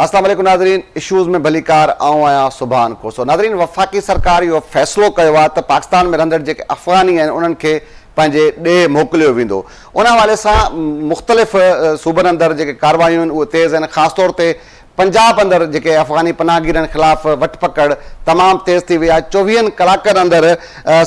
اسلام عليڪم ناظرين اشوز ۾ ڀليڪار آئون آهيان سبحان کوسو ناظرين وفاقي سرڪار اهو فيصلو ڪيو آهي ته پاڪستان ۾ رهندڙ جيڪي افغاني آهن انهن کي پنهنجي ڏيهه موڪليو ويندو ان حوالي سان مختلف صوبن اندر جيڪي ڪاروايون آهن اهي تيز آهن خاص طور تي پنجاب اندر جيڪي افغاني پناهگيرن خلاف وٺ پڪڙ تمام تيز ٿي وئي آهي چوويهن ڪلاڪن اندر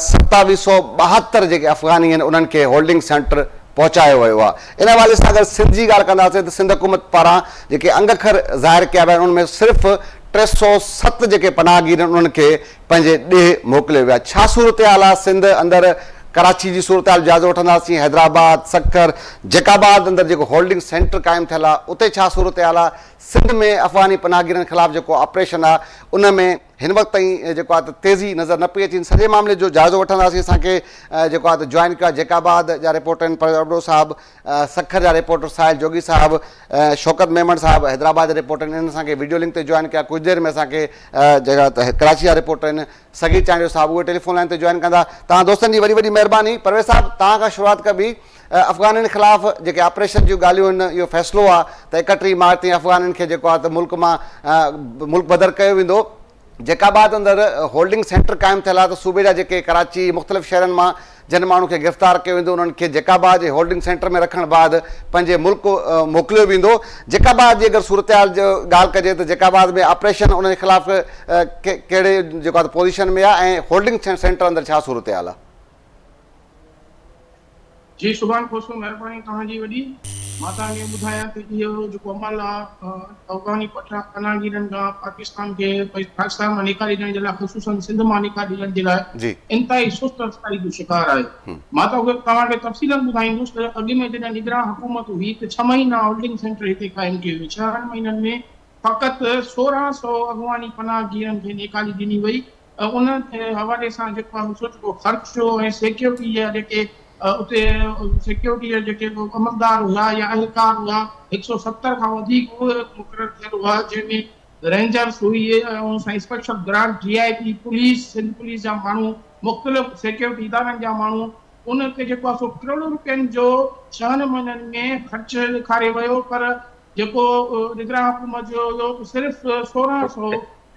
ستاويهه سؤ ٻاهتر جيڪي افغاني آهن انهن کي هولڊنگ سينٽر پهچايو ويو آهي ان حوالي سان اگر سنڌ جي ڳالهه ڪنداسين ته سنڌ حڪومت پاران جيڪي انگ اکر ظاهر ڪيا ويا آهن ان ۾ صرف ٽي سؤ ست جيڪي پناهگير آهن انهن کي پنهنجي ڏيهه موڪليو ويو آهي ڇا صورتحال آهي سنڌ اندر ڪراچي جي صورتحال جو جائزو وٺنداسين حيدرآباد سکر جيڪب آباد اندر جيڪو هولڊنگ سينٽر قائم ٿيل آهي اتي ڇا صورتحال آهي سنڌ ۾ افغاني پناهگيرن خلاف جيڪو آپريشن آهي ان ۾ هن وقت تائين جيڪو آهي ته تيزي نظر نه پئي اچي، ان سڄي معاملي جو جائزو وٺنداسين، اسان کي جيڪو آهي ته جوائن ڪيو آهي جيڪ آباد جا رپورٽر آهن پرويز ابڙو صاحب، سکر جا رپورٽر ساحل جوڳي صاحب، شوڪت ميمڻ صاحب حيدرآباد جا رپورٽر آهن، انهن اسان کي وڊيو لنڪ تي جوائن ڪيو آهي، ڪجهه دير ۾ اسان کي جيڪو آهي ته ڪراچي جا رپورٽر آهن سڳي چانڊيو صاحب اهي ٽيليفون لائين تي جوائن ڪندا، توهان دوستن جي وڏي وڏي مهرباني، پرويز صاحب توهان کان شروعات ڪبي. افغانن خلاف جيڪي آپريشن جون ڳالهيون هن اهو فيصلو آ ته اڪٽيهه مارچ تائين افغانن کي جيڪو آ ته ملڪ مان ملڪ بدر ڪيو ويندو. جيڪب آباد اندر هولڊنگ سينٽر قائم ٿيل آ ته صوبي جا جيڪي ڪراچي مختلف شهرن مان جن ماڻهن کي گرفتار ڪيو ويندو انهن کي جيڪب آباد جي هولڊنگ سينٽر ۾ رکڻ بعد پنهنجي ملڪ موڪليو ويندو. جيڪب آباد جي اگر صورتحال جو ڳالهه ڪجي ته جيڪب آباد ۾ آپريشن انهن خلاف ڪهڙي جيڪو آ ته پوزيشن ۾ آ ۽ هولڊنگ سينٽر اندر ڇا صورتحال آ. جي سبحان کوسو مھرباني توھان جي وڏي. مان توھان کي ٻڌايان تھ اھو جيڪو عمل آ افغاني پٺا پناھگيرن کان پاڪستان کي پاڪستان مان نيڪالي ڏيڻ جي لاء خصوصن سنڌ مان نيڪالي ڏيڻ جي لاء انتھائي سست رفتاري جو شڪار آھي مان توھان کي تفصيلا ٻڌائيندس تھ اڳ ۾ جڏھن نگران حڪومت ھئي تھ ڇھھ مھينا ھولڊنگ سينٽر ھتي قائم ڪيو ويو ڇھن مھينن ۾ فقط سورھان سئو افغاني پناھگيرن کي نيڪالي ڏني وئي ۽ ان حوالي سان جيڪو آهي سو جيڪو خرچو ۽ سيڪيورٽي جا جيڪي اتي سيڪيورٽي جا جيڪي عملدار هئا يا اهلڪار هئا هڪ سؤ ستر کان وڌيڪ اهي مقرر ٿيل هئا جنهن ۾ رينجرس هئي ۽ سائين اسپيشل برانچ جي I T police Sindh police جا ماڻهو مختلف سيڪيورٽي ادارن جا ماڻهو ان تي جيڪو آهي سو ڪروڙين روپين جو ڇهن مهينن ۾ خرچ ڏيکاري ويو پر جيڪو نگران حڪومت جو هيو صرف سورهن سؤ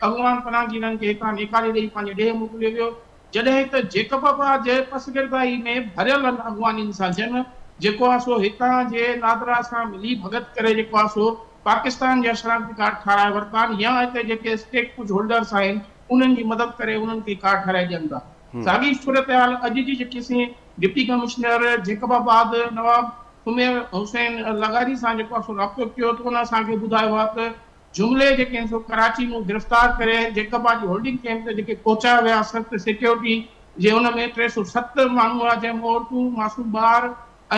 اڳواڻ پناهه جي ننگ کي هيٺان نيڪاري ڏئي پنهنجي ڏيهه موڪليو ويو، جڏهن ته جيڪب آباد جي پسگردائي ۾ ڀريلن اڳواڻين سان جنگ جيڪو آ سو هتان جي نادرا سان ملي ڀڳت ڪري جيڪو آ سو پاڪستان جا شناختي ڪارڊ ٺاهرائي ورتان يا هتي جيڪي اسٽيڪ ڪجهه هولڊرس آهن انهن جي مدد ڪري انهن کي ڪارڊ ٺاهرائي ڏين ٿا. ساڳي صورتحال اڄ جي J T C deputy commissioner Jacobabad Nawab Sameer Hussain لغاري سان جيڪو آ سو رابطو ڪيو تو ان اسان کي ٻڌايو آ ته جملي جي ڪنهن سو ڪراچي مون گرفتار ڪري جيڪب آجي هولڊنگ ڪيمپ ته جيڪي پهچايو ويا سخت سيڪيورٽي جي ان ۾ ٽي سو ست ماڻهو هئا جنهن ۾ عورتون معصوم ٻار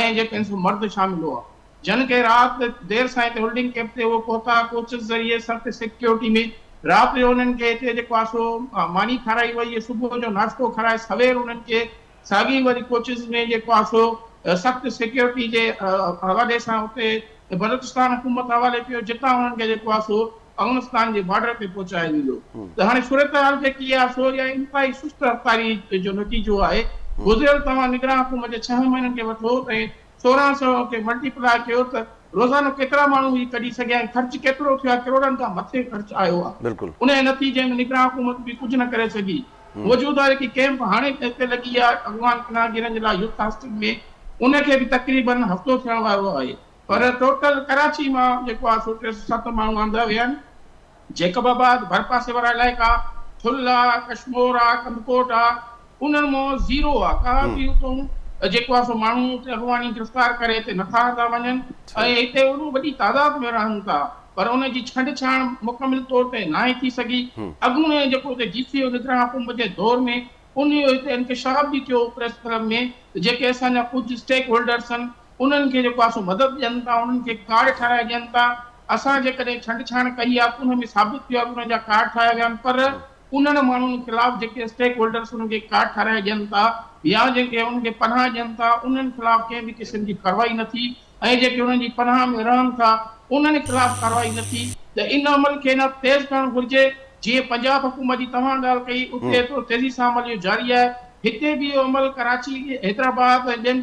۽ جي ڪنهن سو مرد شامل هئا جن کي رات دير سائين تي هولڊنگ ڪيمپ تي اهو پهتا ڪوچز ذريعي سخت سيڪيورٽي ۾ رات جو انهن کي هتي جيڪو آسو ماني کارائي وئي ۽ صبح جو ناشتو کارائي سوير انهن کي ساڳي وري ڪوچز ۾ جيڪو آهي سو سخت سيڪيورٽي جي حوالي سان اتي بلوچستان حڪومت حوالي ڪيو جتان انهن کي جيڪو آهي سو افغانستان جي بارڊر تي پهچايو ويندو ته هاڻي صورتحال جيڪي آهي سو اها انتهائي سست رفتاري جو نتيجو آهي گذريل توهان نگران حڪومت جي ڇهن مهينن کي وٺو ۽ سورهن سو کي ملٽي پلاء ڪيو ته روزانو ڪيترا ماڻهو هي ڪڍي سگهيا ۽ خرچ ڪيترو ٿيو آهي ڪروڙن کان مٿي خرچ آيو آهي انهي نتيجي ۾ نگران حڪومت به ڪجهه نه ڪري سگهي موجود آهي ڪي ڪئمپ هاڻي به هتي لڳي ويا افغان پناهگيرن جي لاء يوٿ هاسٽل ۾ ان کي به تقريبا هفتو ٿيڻ وارو آهي پر ٽوٽل ڪراچي مان جيڪو آهي سو ٽي سو ست ماڻهو آندا ويا آهن جيڪب آباد ڀرپاسي وارا علائقا ٿل آ ڪشمور آ ڪنڌڪوٽ آ انهن مان زيرو آ ڪا به اتون جيڪو آهي سو ماڻهو اتي افغاني گرفتار ڪري هتي نٿا آندا وڃن ۽ هتي اهڙو وڏي تعداد ۾ رهن ٿا پر ان جي ڇنڊ ڇاڻ مڪمل طور تي ناهي ٿي سگهي. اڳوڻي جيڪو ته جي سي او نگران حڪومت جي دور ۾ انهيء هتي انڪشاف به ٿيو پريس ڪلب ۾ ته جيڪي اسان جا ڪجهه اسٽيڪ هولڊرس آهن انهن کي جيڪو آهي سو مدد ڏين ٿا انهن کي ڪارڊ ٺاهرائي ڏين ٿا اسان جيڪڏهن ڇنڊ ڇاڻ ڪئي آهي ته ان ۾ ثابت ٿيو آهي ته انهن جا ڪارڊ ٺاهيا ويا آهن پر انهن ماڻهن خلاف جيڪي اسٽيڪ هولڊرس انهن کي ڪارڊ ٺاهرائي ڏين ٿا يا جن کي انهن کي پناهه ڏين ٿا انهن خلاف ڪنهن به قسم جي ڪارروائي نه ٿي ۽ جيڪي انهن جي پناهه ۾ رهن ٿا انهن خلاف ڪارروائي نه ٿي ته ان عمل کي نه تيز ڪرڻ گهرجي جيئن پنجاب حڪومت جي توهان ڳالهه ڪئي اتي ايترو تيزي سان عمل اهو جاري آهي هتي به اهو عمل ڪراچي حيدرآباد ۽ ٻين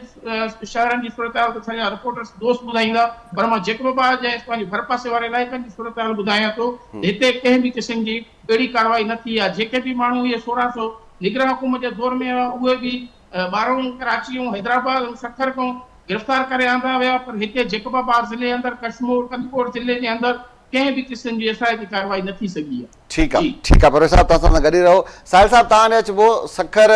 شهرن جي صورتحال ته اسان جا رپورٽرس دوست ٻڌائيندا پر مان جيڪب آباد جي ۽ پنهنجي ڀرپاسي واري علائقن جي صورتحال ٻڌايان ٿو ته هتي ڪنهن به قسم جي اهڙي ڪارروائي نه ٿي آهي جيڪي به ماڻهو اهي سورهن سو نگران حڪومت جي دور ۾ هئا اهي به ٻارنهن ڪراچي ۽ حيدرآباد ۽ سکر کان گرفتار ڪري آندا ويا پر هتي جيڪب آباد ضلعي اندر ڪشمور ڪنڌڪوٽ ضلعي جي اندر ڪنهن به قسم جي ايس آء تي ڪارروائي نه ٿي سگهي آهي. ٺيڪ آ ٺيڪ آ پرويز صاحب توهان سان گڏ ئي رهو ساحل صاحب توهان ڏي اچبو سکر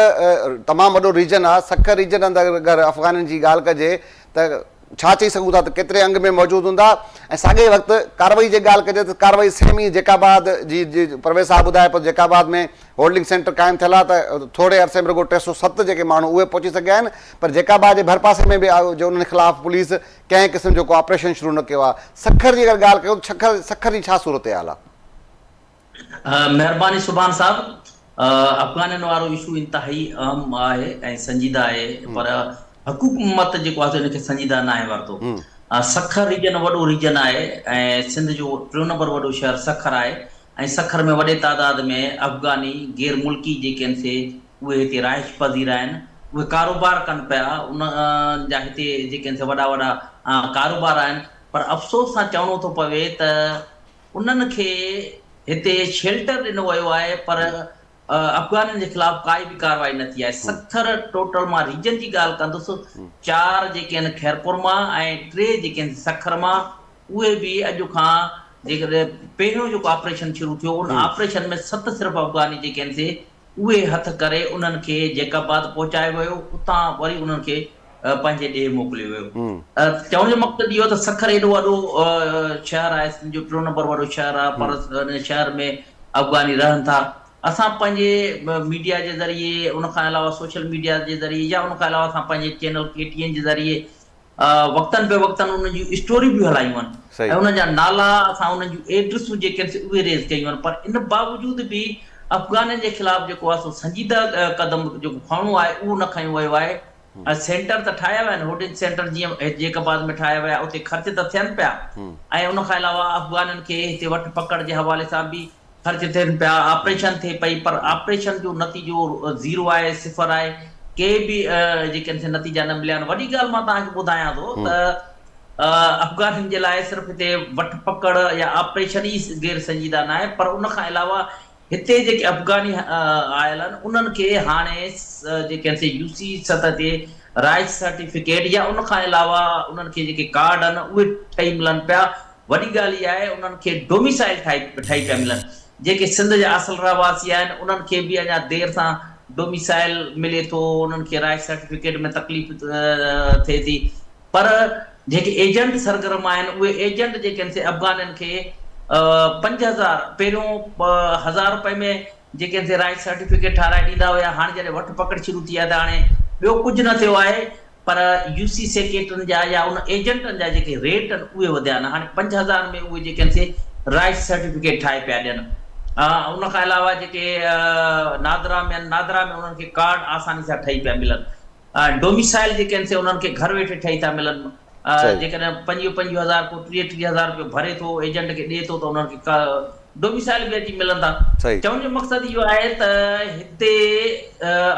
تمام وڏو ريجن آ سکر ريجن اندر اگر افغانين جي ڳالهه ڪجي ته ڇا چئي سگهون ٿا ته ڪيتري انگ ۾ موجود هوندا ۽ ساڳئي وقت ڪارروائي جي ڳالهه ڪجي ته ڪارروائي سيم ئي جيڪب آباد جي پرويز صاحب ٻڌايو پر جيڪب آباد ۾ هولڊنگ سينٽر قائم ٿيل آهي ته ٿوري عرصي ۾ رڳو ٽي سؤ ست جيڪي ماڻهو اهي پهچي سگهيا آهن پر جيڪب آباد جي ڀرپاسي ۾ به جو انهن خلاف پوليس ڪنهن قسم جو ڪو آپريشن شروع نه ڪيو آهي سکر جي اگر ڳالهه ڪيون ته سکر سکر جي ڇا صورتحال آهي. مهرباني سبحان صاحب افغانين وارو اشو انتهائي اهم آهي ۽ سنجيده آهي پر حڪومت جيڪو آهي ان کي سنجيده ناهي ورتو سکر ريجن وڏو ريجن آهي ۽ سنڌ جو ٽيون نمبر وڏو شهر سکر آهي ۽ سکر ۾ وڏي تعداد ۾ افغاني غير ملڪي جيڪي آهن سي اهي هتي رهائش پذير آهن اهي ڪاروبار ڪن پيا ان جا هتي جيڪي آهن سي وڏا وڏا ڪاروبار آهن پر افسوس سان چوڻو ٿو پوي ته انهن کي هتي شيلٽر ڏنو ويو آهي پر افغانين جي خلاف ڪائي به ڪارروائي نه ٿي آهي. ستر ٽوٽل مان ريجن جي ڳالهه ڪندس، چار جيڪي آهن خيرپور مان ۽ ٽي جيڪي آهن سکر مان اهي به اڄ کان جيڪڏهن پهريون جيڪو آپريشن شروع ٿيو ان آپريشن ۾ ست صرف افغاني جيڪي آهن سي اهي هٿ ڪري انهن کي جيڪب آباد پهچايو ويو، اتان وري انهن کي پنهنجي ڏيهه موڪليو ويو. چوڻ جو مقصد اهو ته سکر ايڏو وڏو شهر آهي، سنڌ جو ٽيون نمبر وڏو شهر آهي، پر ان شهر ۾ افغاني رهن ٿا. اسان پنهنجي ميڊيا جي ذريعي، ان کان علاوه سوشل ميڊيا جي ذريعي يا ان کان علاوه اسان پنهنجي چينل ڪي ٽي اين جي ذريعي، وقتن به وقتن انهن جون اسٽوريون به هلايون آهن ۽ انهن جا نالا اسان انهن جون ايڊريسون جيڪي آهن سي اهي ريز ڪيون آهن پر ان باوجود به افغانن جي خلاف جيڪو آهي سو سنجيده قدم جيڪو کڻڻو آهي اهو نه کنيو ويو آهي ۽ سينٽر ته ٺاهيا ويا آهن هوڊنج سينٽر جيئن جيڪب آباد ۾ ٺاهيا ويا اتي خرچ ته ٿين پيا ۽ ان کان علاوه افغانن کي هتي وٺ پڪڙ جي حوالي سان به خرچ ٿين پيا، آپريشن ٿئي پئي پر آپريشن جو نتيجو زيرو آهي، صفر آهي، ڪي به جيڪي آهن سي نتيجا نه مليا آهن، وڏي ڳالهه مان توهان کي ٻڌايان ٿو ته افغانين جي لاء صرف هتي وٺ پڪڙ يا آپريشن ئي غير سنجيده ناهي پر ان کان علاوه هتي جيڪي افغاني آيل آهن انهن کي هاڻي جيڪي آهن سي يو سي سطح تي رهائش سرٽيفڪيٽ يا ان کان علاوه انهن کي جيڪي ڪارڊ آهن اهي ٺهي ملن پيا، وڏي ڳالهه اها آهي انهن کي ڊوميسائل ٺهي پيا ملن، جيڪي سنڌ جا اصل رهواسي آهن انهن کي به اڃا دير سان ڊوميسائل ملي ٿو، انهن کي رهائش سرٽيفڪيٽ ۾ تڪليف ٿئي ٿي پر جيڪي ايجنٽ سرگرم آهن اهي ايجنٽ جيڪي آهن سي افغانين کي پنج هزار پهريون هزار رپئي ۾ جيڪي آهن سي رهائش سرٽيفڪيٽ ٺهرائي ڏيندا هيا هاڻي جڏهن وٺ پڪڙ شروع ٿي آهي ته هاڻي ٻيو ڪجهه نه ٿيو آهي. پر يو سي سيڪريٽرين جا يا ان ايجنٽن جا جيڪي ريٽ آهن اهي وڌيا آهن هاڻي پنج هزار ۾ اهي جيڪي آهن سي رائيس سرٽيفڪيٽ ٺاهي پيا ڏين ان کان علاوه جيڪي نادرا ۾ آهن نادرا ۾ انهن کي ڪارڊ آساني سان ٺهي پيا ملن ڊوميسائل جيڪي آهن سي انهن کي گهر ويٺي ٺهي ٿا ملن جيڪڏهن پنجويهه پنجويهه هزار ڪو ٽيهه ٽيهه هزار رپيو ڀري ٿو ايجنٽ کي ڏي ٿو ته انهن کي ڊوميسائل به اچي ملندا. چوڻ جو مقصد اهو آهي ته هتي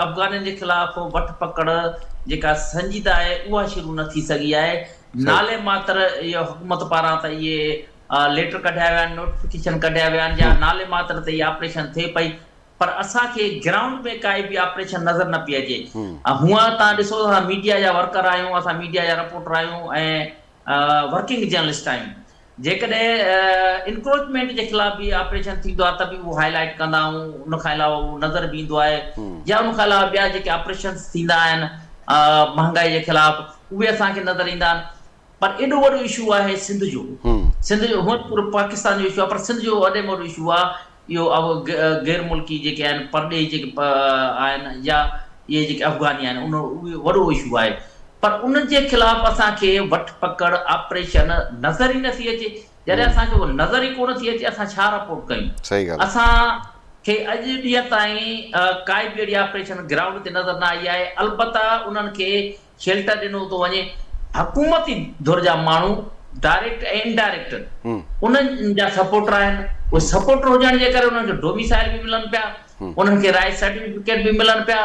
افغانين جي خلاف وٺ پڪڙ جيڪا سنجيده آهي اها شروع نه ٿي سگهي آهي. نالي ماتر اهو حڪومت پاران ته اهي ليٽر ڪڍيا ويا آهن، نوٽيفڪيشن ڪڍيا ويا آهن يا نالي ماتر تي اهي آپريشن ٿئي پئي پر اسان کي گرائونڊ ۾ ڪائي به آپريشن نظر نه پئي اچي. هونئن تان ڏسو اسان ميڊيا جا ورڪر آهيون، اسان ميڊيا جا رپورٽر آهيون ۽ ورڪنگ جرنلسٽ آهيون جيڪڏهن انڪروچمينٽ جي خلاف به آپريشن ٿيندو آهي ته به اهو هاء لائيٽ ڪندا آهيون ان کان علاوه اهو نظر به ايندو آهي يا ان کان علاوه ٻيا جيڪي آپريشنس ٿيندا آهن مهانگائي جي خلاف اهي اسان کي نظر ايندا آهن پر ايڏو وڏو اشو آهي سنڌ جو سنڌ جو هونئن پورو پاڪستان جو اشو آهي پر سنڌ جو وڏي ۾ وڏو اشو آهي اهو اهو غير ملڪي جيڪي آهن پرڏيهي جيڪي آهن يا اهي جيڪي افغاني آهن ان اهو وڏو اشو آهي پر ان جي خلاف اسان کي وٺ پڪڙ آپريشن نظر ئي نٿي اچي جڏهن اسان کي اهو نظر ئي ڪونه ٿي اچي اسان ڇا رپورٽ ڪيون اسان کي اڄ ڏينهن تائين ڪائي به اهڙي آپريشن گرائونڊ تي نظر نه آئي آهي البته انهن کي شيلٽر ڏنو ٿو وڃي، حڪومتي ڌر جا ماڻهو ڊائريڪٽ ۽ انڊائريڪٽ انهن جا سپورٽر آهن، اهي سپورٽر هجڻ جي ڪري انهن کي ڊوميسائل به ملن پيا، انهن کي رهائش سرٽيفڪيٽ به ملن پيا،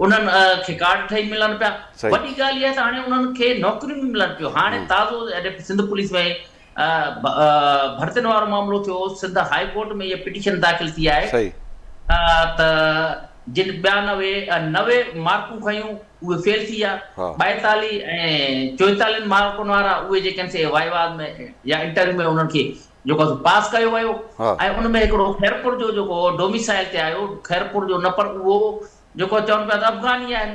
انهن کي ڪارڊ ٺهي ملن پيا، وڏي ڳالهه اها آهي ته هاڻي انهن کي نوڪريون به ملن پيون، هاڻي تازو سنڌ پوليس ۾ ڀرتين وارو معاملو ٿيو، سنڌ هاء ڪورٽ ۾ اها پٽيشن داخل ٿي آهي صحيح. ته جن ٻيانوي نوي مارڪون کنيون اهي فيل ٿي ويا، ها. ٻائيتاليهه ۽ چوئيتاليهن مارڪن وارا اهي جيڪي آهن سي وائيوا ۾ يا انٽرويو ۾ انهن کي جيڪو آهي سو پاس ڪيو ويو ها. ۽ ان ۾ هڪڙو خيرپور جو جيڪو ڊوميسائل تي آيو، خيرپور جو نه پر اهو جيڪو چون پيا ته افغاني آهن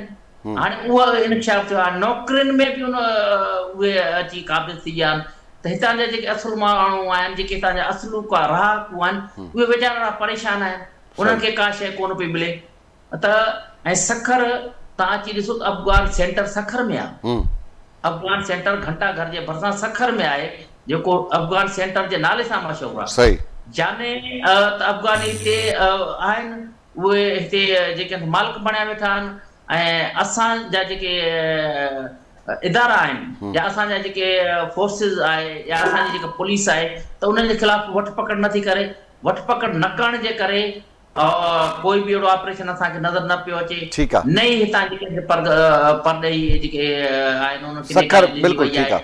هاڻي اهو انڪشاف ٿيو آهي نوڪرين ۾ به ان اهي اچي قابض ٿي ويا آهن ته هتان جا جيڪي اصل ماڻهو آهن جيڪي هتان جا اصلوڪا رهاڪو آهن اهي ويچارا اهڙا پريشان آهن انهن کي ڪا شيء ڪونه پئي ملي ته ۽ سکر تان اچي ڏسو ته افغان سينٽر سکر ۾ آهي افغان سينٽر گهنٽا گهر جي ڀرسان سکر ۾ آهي جيڪو افغان سينٽر جي نالي سان مشهور آهي جاني ته افغاني هتي آهن اهي هتي جيڪي مالڪ بڻيا ويٺا آهن ۽ اسان جا جيڪي ادارا آهن يا اسان جا جيڪي فورسز آهي يا اسان جي جيڪا پوليس آهي ته انهن جي خلاف وٺ پڪڙ نه ٿي ڪري وٺ پڪڙ نه ڪرڻ جي ڪري ڪوئي به اهڙو آپريشن اسان کي نظر نه پيو اچي نه ئي هتان جي ڪنهن کي پرڏيهي جيڪي آهن انهن کي نيڪالي ڏني وئي آهي.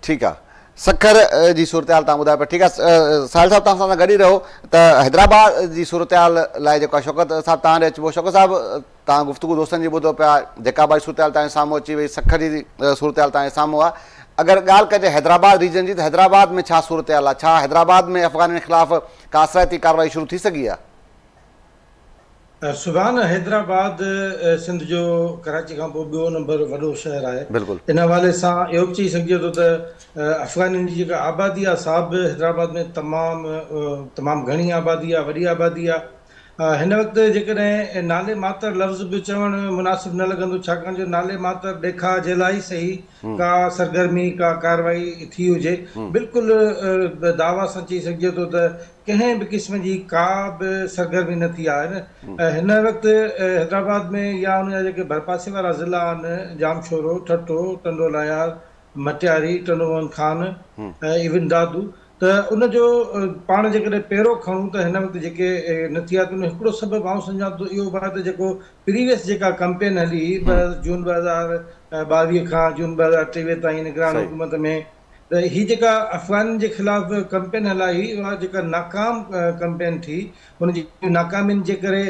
ٺيڪ آ سکر جي صورتحال تان ٻڌايو پيا ٺيڪ آ ساحل صاحب تان سان گڏ ئي رهو ته حيدرآباد جي صورتحال لاء جيڪو آ شوڪت صاحب تان ڏي اچبو شوڪت صاحب تان گفتگو دوستن جي ٻڌو پيا جيڪا باري صورتحال تان سامهون اچي وئي سکر جي صورتحال تان سامهون آ اگر ڳالهه ڪجي حيدرآباد ريجن جي ته حيدرآباد ۾ ڇا صورتحال آ ڇا حيدرآباد ۾ افغانن خلاف ڪا اثرائتي ڪارروائي شروع ٿي سگهي آ. سبحان حيدرآباد سنڌ جو ڪراچي کان پوء ٻيو نمبر وڏو شهر آهي ان حوالي سان اهو به چئي سگهجي ٿو ته افغانين جي جيڪا آبادي آهي سا به حيدرآباد ۾ تمام تمام گهڻي آبادي آهي وڏي آبادي آهي هن وقت جيڪڏهن نالي ماتر لفظ به چوڻ مناسب نه لڳندو ڇاڪاڻ جو نالي ماتر ڏيکاء جي لاء ئي سهي ڪا سرگرمي ڪا ڪارروائي ٿي هجي بلڪل دعويٰ سان چئي سگهجي ٿو ته ڪنهن به قسم جي ڪا به سرگرمي نه ٿي آهي هن وقت حيدرآباد ۾ يا ان جا جيڪي ڀرپاسي وارا ضلعا آهن ڄامشورو، ٺٽو، ٽنڊو لاهيار، مٽياري، ٽنڊو موهن خان ۽ ايون دادو ته ان جو پاڻ جيڪڏهن پيرو کڻون ته هن وقت جيڪي نه ٿي آهي ته ان جو هڪڙو سبب آئون سمجهان ٿو ته اهو به آهي ته جيڪو پريويس جيڪا ڪمپين هلي هئي جون ٻه هزار ٻاويهه کان جون ٻه هزار ٽيويهه تائين نگران حڪومت ۾ ته هي جيڪا افغانن جي خلاف ڪمپين هلائي اها جيڪا ناڪام ڪمپين ٿي ان جي ناڪامين جي ڪري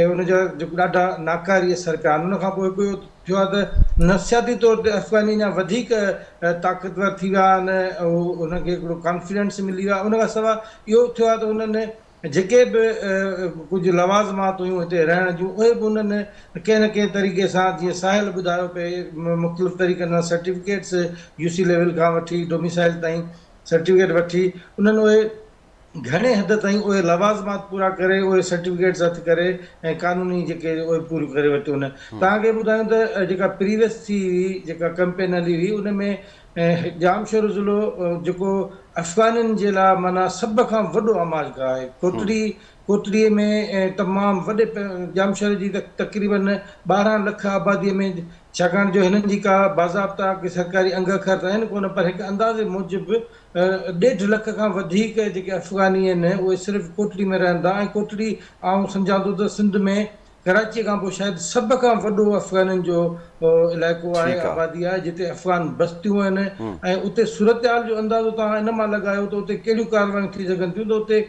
ان جا جيڪو ڏاڍا ناڪاري اثر پيا آهن ان کان پوء هڪ ٿيو آهي ته نفسياتي طور تي افغاني اڃا وڌيڪ طاقتور ٿي ويا آهن ان کي هڪڙو ڪانفيڊنس ملي ويو آهي ان کان سواء اهو به ٿيو آهي ته انهن جيڪي به ڪجهه لوازمات هيون هتي رهڻ جون اهي به انهن ڪنهن نه ڪنهن طريقي سان جيئن ساحل ٻڌايو پئي مختلف طريقن سان سرٽيفڪيٽس يو سي ليول کان وٺي ڊوميسائل تائين سرٽيفڪيٽ وٺي انهن اهي گهڻي حد تائين اهي لوازمات پورا ڪري اهي سرٽيفڪيٽس هٿ ڪري ۽ قانوني جيڪي اهي پوريون ڪري ورتيون آهن توهان کي ٻڌايون ته جيڪا پريويس ٿي هئي جيڪا ڪمپين هلي هئي ان ۾ ڄامشورو ضلعو جيڪو افغانين جي لاء معنيٰ سڀ کان وڏو آماج گاهه آهي. ڪوٽڙي ڪوٽڙي ۾ تمام وڏي ڄامشوري جي تقريباً ٻارهن لک آبادي ۾ ڇاڪاڻ جو هنن جي ڪا باضابطا ڪي سرڪاري انگ اکر ته آهن ڪونه پر هڪ اندازي موجب ڏيڍ لک کان وڌيڪ جيڪي افغاني آهن اهي صرف ڪوٽڙي ۾ رهن ٿا ۽ ڪوٽڙي آئون سمجهان ٿو ته سنڌ ۾ ڪراچيء کان پوء شايد سڀ کان وڏو افغانن جو علائقو آهي، ٺيڪ آ. آبادي آهي، جتي افغان بستيون آهن ھمم. ۽ اتي صورتحال جو اندازو توهان ان مان لڳايو ته اتي ڪهڙيون ڪارروايون ٿي سگهن ٿيون ته اتي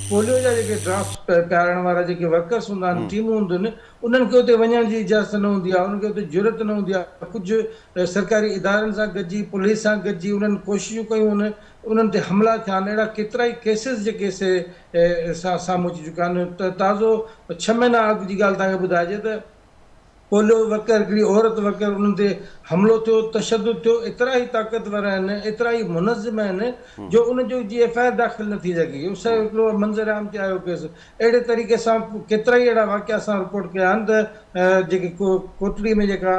پوليو جا جيڪي ڊراپس پيارڻ وارا جيڪي ورڪرس هوندا آهن، ھمم. ٽيمون هونديون آهن، انهن کي اتي وڃڻ جي اجازت نه هوندي آهي، انهن کي اتي جرئت نه هوندي آهي، ڪجهه سرڪاري ادارن سان گڏجي، پوليس سان گڏجي انهن ڪوششون ڪيون هن، انهن تي حملا ٿيا آهن، اهڙا ڪيترائي ڪيسز جيڪي سي سان سامهون اچي چڪا آهن ته تازو ڇهه مهينا اڳ جي ڳالهه توهان کي ٻڌائجي ته پوليو وڪر هڪڙي عورت وڪر انهن تي حملو ٿيو تشدد ٿيو ايترا هي طاقتور آهن ايترا هي منظم آهن جو ان جو جي ايف آء آر داخل نه ٿي سگهي اهو سهي هڪڙو منظر عام تي آيو ڪيس اهڙي طريقي سان ڪيترائي اهڙا واقعا اسان رپورٽ ڪيا آهن ته جيڪي ڪوٽڙي ۾ جيڪا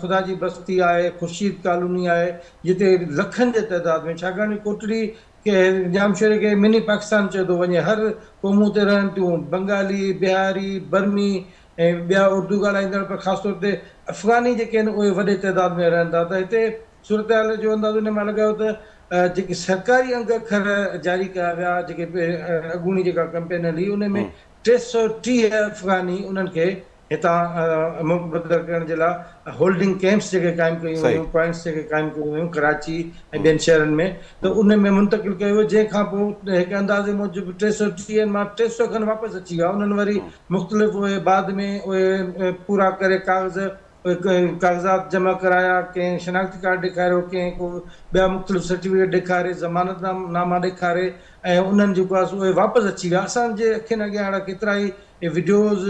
خدا جي بستي آهي خورشيد ڪالوني آهي جتي لکن جي تعداد ۾ ڇاڪاڻ ڪوٽڙي کي ڄامشوري کي مني پاڪستان چيو ٿو وڃي هر قومون اتي رهن ٿيون بنگالي، بهاري، برمي ۽ ٻيا اردو ڳالهائيندڙ پر خاص طور تي افغاني جيڪي آهن اهي وڏي تعداد ۾ رهن ٿا ته هتي صورتحال جو اندازو ان مان لڳايو ته جيڪي سرڪاري انگ اکر جاري ڪيا ويا جيڪي اڳوڻي جيڪا ڪمپين هلي ان ۾ ٽي سؤ ٽيهه افغاني انهن کي هتان ملڪ بدر ڪرڻ جي لاء هولڊنگ ڪئمپس جيڪي قائم ڪيون ويون، پوائنٽس جيڪي قائم ڪيون ويون ڪراچي ۽ ٻين شهرن ۾ ته ان ۾ منتقل ڪيو ويو جنهن کان پوء هڪ اندازي موجب ٽي سؤ ٽيهه مان ٽي سؤ کن واپس اچي ويا انهن وري مختلف اهي بعد ۾ اهي پورا ڪري ڪاغذ ڪاغذات جمع ڪرايا ڪنهن شناختي ڪارڊ ڏيکاريو ڪنهن ڪو ٻيا مختلف سرٽيفڪيٽ ڏيکاري ضمانت ناما ڏيکاري ۽ انهن جيڪو آهي سو اهي واپس اچي ويا اسان جي اکين اڳيان اهڙا ڪيترائي اهي وڊيوز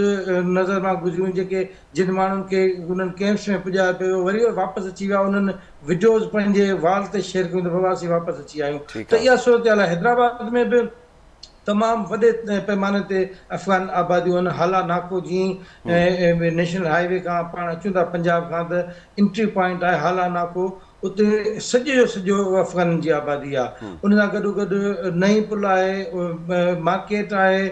نظر مان گذريون جيڪي جن ماڻهن کي انهن ڪئمپس ۾ پڄايو پيو ويو وري اهي واپس اچي ويا انهن وڊيوز پنهنجي وال تي شيئر ڪيون ته بابا اسين واپس اچي آيون ته اها صورتحال آهي حيدرآباد ۾ به تمام وڏي پيماني تي افغان آباديون آهن هالا ناڪو جي نيشنل هاء وي کان پاڻ اچون ٿا پنجاب کان ته انٽري پوائنٽ آهي هالا ناڪو اتي سڄو جو سڄو افغانن جي آبادي آهي ان سان گڏو گڏ نئين پل آهي مارڪيٽ آهي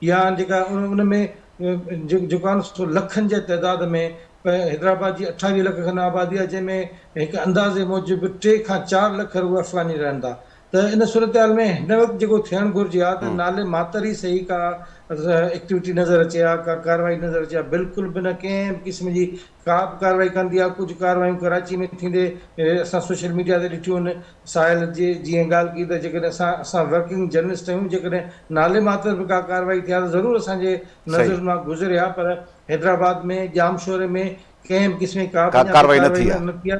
يا جيڪا ان ۾ جيڪو آهي نه سو لکن جي تعداد ۾ حيدرآباد جي اٺاويهه لک کن آبادي آهي جنهن ۾ هڪ اندازي موجب ٽي کان چار لک روح افغاني رهن ٿا ته ان صورتحال ۾ هن وقت جيڪو ٿيڻ گهرجي ها ته نالي ماتر ئي سهي ڪا ايڪٽيوٽي نظر اچي ها ڪا ڪارروائي نظر اچي ها بلڪل به نه ڪنهن به قسم جي ڪا به ڪارروائي ڪندي آ، ڪجهه ڪارروايون ڪراچي ۾ ٿيندي اسان سوشل ميڊيا تي ڏٺيون آهن، ساحل جي جيئن ڳالهه ڪئي ته جيڪڏهن اسان اسان ورڪنگ جرنلسٽ آهيون جيڪڏهن نالي ماتر به ڪا ڪارروائي ٿي آ ته ضرور اسان جي نظرن صحيح. مان گذري آ پر حيدرآباد ۾ ڄامشوري ۾ ڪنهن به قسم جي ڪا به اڃا تائين ڪارروائي نه ٿي آ. ڪارروائي نه ٿي آ.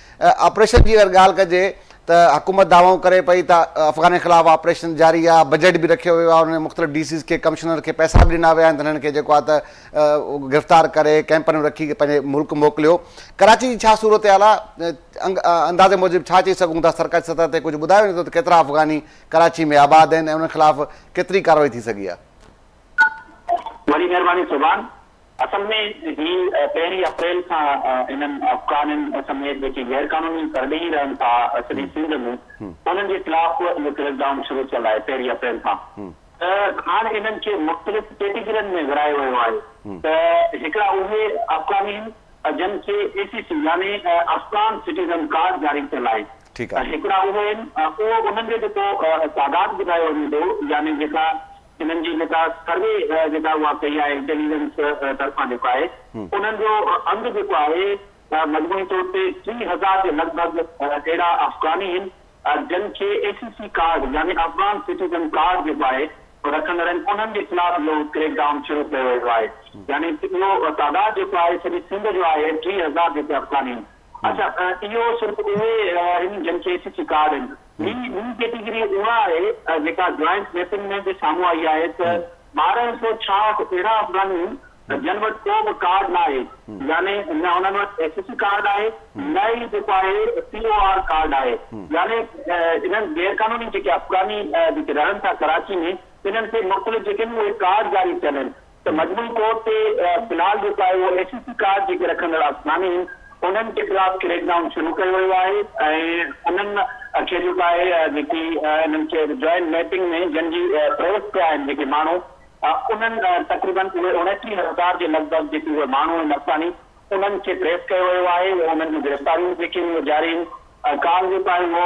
آپريشن جي اگر ڳالهه ڪجي ته حڪومت دعوائون ڪري پئي ته افغانن خلاف آپريشن جاري آهي، بجيٽ به رکيو ويو آهي، انهن مختلف ڊي سيز کي ڪمشنر کي پئسا به ڏنا ويا آهن ته هنن کي جيڪو آهي ته گرفتار ڪري ڪئمپن ۾ رکي پنهنجي ملڪ موڪليو، ڪراچي جي ڇا صورتحال آهي؟ اندازي موجب ڇا چئي سگهون ٿا سرڪاري سطح تي ڪجهه ٻڌايو وڃي ٿو ته ڪيترا افغاني ڪراچي ۾ آباد آهن ۽ انهن خلاف ڪيتري ڪارروائي ٿي سگهي آهي؟ وڏي مهرباني سوڀان. اصل ۾ هي پهرين اپريل کان انهن افغانين سميت جيڪي غير قانوني پرڏيهي رهن ٿا سڄي سنڌ ۾ انهن جي خلاف اهو ڪريڪ ڊائون شروع ٿيل آهي پهرين اپريل کان ته هاڻ انهن کي مختلف ڪيٽيگرين ۾ ورهايو ويو آهي ته هڪڙا اهي افغاني آهن جن کي اي سي سي يعني افغان سٽيزن ڪارڊ جاري ٿيل آهي ۽ هڪڙا اهي آهن اهو انهن جو جيڪو تعداد ٻڌايو وڃي ٿو يعني جيڪا انهن جي جيڪا سروي جيڪا اها ڪئي آهي انٽيليجنس طرفان جيڪو آهي انهن جو انگ جيڪو آهي مجموعي طور تي ٽي هزار جي لڳ ڀڳ اهڙا افغاني هن جن کي اي سي سي ڪارڊ يعني افغان سٽيزن ڪارڊ جيڪو آهي رکندڙ آهن انهن جي خلاف اهو ڪريڪ ڊائون شروع ڪيو ويو آهي يعني اهو تعداد جيڪو آهي سڄي سنڌ جو آهي ٽي هزار جيڪي افغاني هن. اچا اهو صرف اهي آهن جن کي ايس سي ڪارڊ آهن. ٻي ٻي ڪيٽيگري اها آهي جيڪا جوائنٽ ميپنگ ۾ به سامهون آئي آهي ته ٻارهن سؤ ڇاهٺ اهڙا افغاني آهن جن وٽ ڪو به ڪارڊ نه آهي يعني نه انهن وٽ ايس سي ڪارڊ آهي نه ئي جيڪو آهي پي او آر ڪارڊ آهي يعني انهن غير قانوني جيڪي افغاني جيڪي رهن ٿا ڪراچي ۾ انهن کي مختلف جيڪي اهي ڪارڊ جاري ٿيل آهن ته مجموعي طور تي بلال ڏوڪايو اي سي سي ڪارڊ جيڪي رکندڙ آسنا ۾ آهن انهن جي خلاف ڪريڪ ڊائون شروع ڪيو ويو آهي ۽ انهن کي جو ڪا اهي جيڪي انهن کي جوائنٽ ميپنگ ۾ جن جي پريس ٿيا آهن جيڪي ماڻهو انهن تقريبن اهي اوڻيٽيهه هزار جي لڳ ڀڳ جيڪي اهي ماڻهو آهن افغاني انهن کي ٽريس ڪيو ويو آهي انهن جون گرفتاريون به جيڪي جاري آهن ڪال جو ڪا اهي هو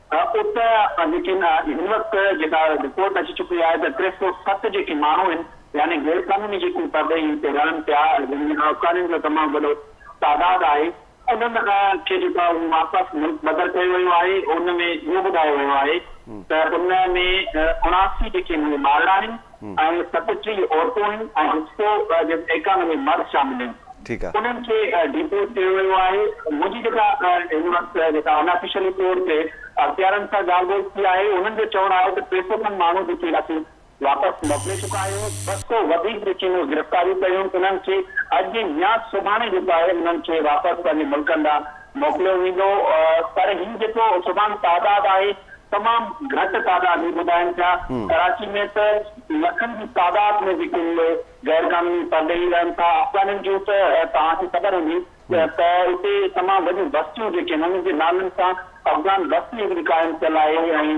ات ليڪن هن وقت جيڪا رپورٽ اچي چڪي آهي ته ٽي سؤ ست جيڪي ماڻهو آهن يعني غير قانوني جيڪي پرڏيهي هتي رهن پيا جن ۾ آفغانين جو تمام وڏو تعداد آهي انهن کي جيڪو آهي اهو واپس ملڪ بدر ڪيو ويو آهي ان ۾ اهو ٻڌايو ويو آهي ته ان ۾ اڻاسي جيڪي مارڙا آهن ۽ ستٽيهه عورتون ۽ هڪسو ايڪانومي مرد شامل آهن. انهن کي ڊيپورٽ ڪيو ويو آهي. منهنجي جيڪا هن وقت جيڪا ان آفيشلي طور تي اختيارين سان ڳالهه ٻولهه ٿي آهي انهن جو چوڻ آهي ته ٽي سؤ کن ماڻهو جيڪي اسين واپس موڪلي چڪا آهيون ٻه سؤ وڌيڪ جيڪي مون گرفتاريون ڪيون انهن کي اڄ يا سڀاڻي جيڪو آهي انهن کي واپس پنهنجي ملڪن ڏانهن موڪليو ويندو پر هي جيڪو سڀان تعداد آهي تمام گهٽ تعداد هي ٻڌائن پيا ڪراچي ۾ ته لکن جي تعداد ۾ جيڪي غير قانوني پرڏيهي رهن ٿا افغانين جون ته توهان کي خبر هوندي ته اتي تمام وڏيون بستيون جيڪي آهن انهن جي نالن سان افغان بستي هڪڙي قائم ٿيل آهي ۽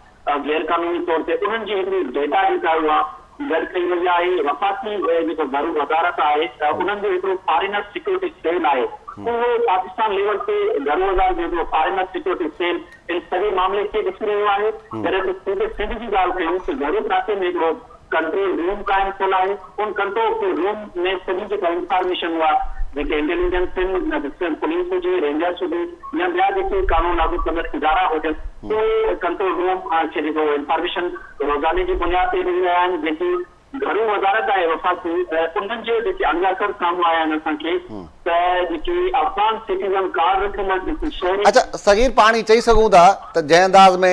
۽ غير قانوني طور تي انهن جي هڪڙي ڊيٽا جيڪا آهي اها گڏ ڪئي وئي آهي. وفاقي جيڪو گهرو وزارت آهي انهن جو هڪڙو فارينر سيڪيورٽي سيل آهي اهو پاڪستان ليول تي گهرو وزارت جو هڪڙو فارينر سيڪيورٽي سيل ان سڄي معاملي کي ڏسي رهيو آهي جڏهن ته صوبي سنڌ جي ڳالهه ڪيون ته گهرو ڪراچي ۾ هڪڙو ڪنٽرول روم قائم ٿيل آهي، ان ڪنٽرول روم ۾ سڄي جيڪا انفارميشن اها جيڪي انٽيليجنس ٽيم سنڌ پوليس هجي، رينجرس هجي يا ٻيا جيڪي قانون لاڳو ڪندڙ ادارا هجن اهي ڪنٽرول روم کي جيڪو اهو انفارميشن روزاني جي بنياد تي ڏئي رهيا آهن جيڪي گهرو وزارت آهي وفاقي انهن جي جيڪي عناصر سامهون آيا آهن اسان کي ته جيڪي افغان سٽيزن ڪارڊ رکيل آهن جيڪي شهري. اچا صغير پاڻ هي چئي سگهون ٿا ته جنهن انداز ۾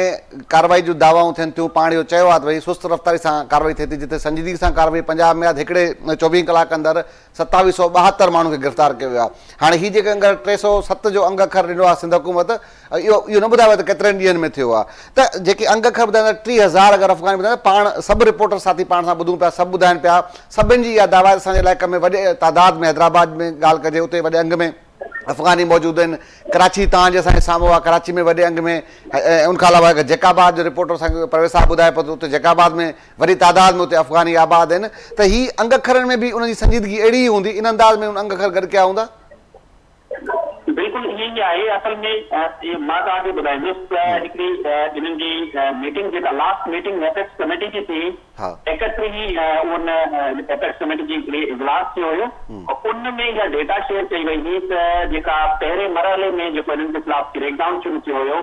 ڪارروائي جون دعوائون ٿين ٿيون پاڻ اهو چيو آهي ته ڀئي سست رفتاري سان ڪارروائي ٿئي ٿي جتي سنجيدگي سان ڪارروائي پنجاب ۾ آهي ته هڪڙي چوويهن ڪلاڪ اندر ستاويهه سؤ ٻاهتر ماڻهن کي گرفتار ڪيو ويو آهي هاڻي هي جيڪي انگر ٽي سؤ ست جو انگ اکر ڏنو آهي سنڌ حڪومت اهو اهو نه ٻڌايو ويو ته ڪيترن ڏينهن ۾ ٿيو آهي ته جيڪي انگ اکر ٻڌائيندا آهن ٽي هزار اگر افغاني ٻڌائيندا پاڻ سڀ رپورٽر ساٿي پاڻ سان ٻڌون پيا سڀ ٻڌائين پيا سڀن جي اها دعويٰ آهي ته اسان جي علائقي ۾ وڏي تعداد ۾ حيدرآباد ۾ ڳالهه ڪجي اتي وڏي انگ ۾ افغاني موجود آهن ڪراچي تان جي اسان جي سامهون آهي ڪراچي ۾ وڏي انگ ۾ ان کان علاوه هڪ جيڪ آباد جو رپورٽر اسان کي پرويز صاحب ٻڌائي پيو ته اتي جيڪ آباد ۾ وڏي تعداد ۾ اتي افغاني آباد آهن ته هي انگ اکرن ۾ به ان جي سنجيدگي اهڙي ئي هوندي ان انداز ۾ هن انگ اکر گڏ ڪيا هوندا بلڪل ائين ئي آهي اصل ۾ مان توهان کي ٻڌائيندس ته هڪڙي انهن جي ميٽنگ جيڪا لاسٽ ميٽنگ ايپڪس ڪميٽي جي ٿي ايڪٽريهين ان ايپڪس ڪميٽي جي هڪڙي اجلاس ٿيو هيو ان ۾ اها ڊيٽا شيئر ڪئي وئي هئي ته جيڪا پهرين مرحلي ۾ جيڪو انهن جي خلاف ڪريڪ ڊائون شروع ٿيو هيو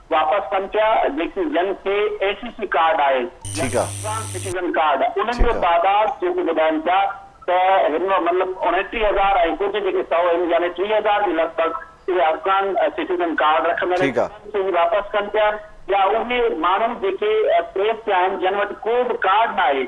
واپس ڪن پيا جيڪي جن کي اي سي سي ڪارڊ آهي يا افغان سٽيزن ڪارڊ انهن جو تعداد جيڪو ٻڌائن پيا ته هن مهل اڻٽيهه هزار ۽ ڪجهه جيڪي سؤ آهن يعني ٽيهه هزار جي لڳ ڀڳ اهي افغان سٽيزن ڪارڊ رکندڙ آهن انهن کي هي واپس ڪن پيا يا اهي ماڻهو جيڪي پريس تي آهن جن وٽ ڪو به ڪارڊ ناهي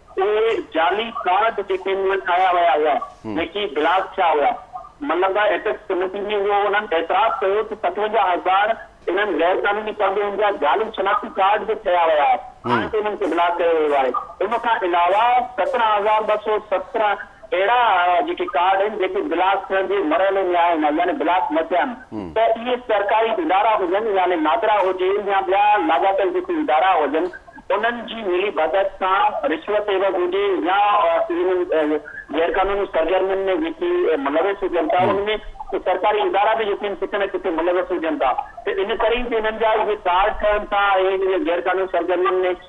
اهي جعلي ڪارڊ جيڪي مون وٽ آيا ويا هئا، جيڪي بلاڪ ٿيا هئا، ملن لاء ايپڪس ڪميٽي ۾ اهو انهن اعتراف ڪيو ته ستونجاهه هزار انهن غير قانوني قرضن جا جعلي شناختي ڪارڊ به ٺهيا ويا آهن ته انهن کي بلاڪ ڪيو ويو آهي. ان کان علاوه سترهن هزار ٻه سؤ سترهن اهڙا جيڪي ڪارڊ آهن جيڪي بلاڪ ٿيڻ جي مرحلي ۾ آهن يعني بلاڪ نه ٿيا آهن ته اهي سرڪاري ادارا هجن يعني نادرا هجي يا ٻيا لاڳاپيل جيڪي ادارا هجن انهن جي ملي ڀڳت سان رشوت عيوض هجي يا انهن غيرقانوني سرگرمين ۾ جيڪي ملوث هجن ٿا ان ۾ سرڪاري ادارا به يقين ڪٿي نه ڪٿي ملوث هجن ٿا ته ان ڪري ئي انهن جا اهي ڪارڊ ٺهن ٿا ۽ اهي غيرقانوني سرگرمين ۾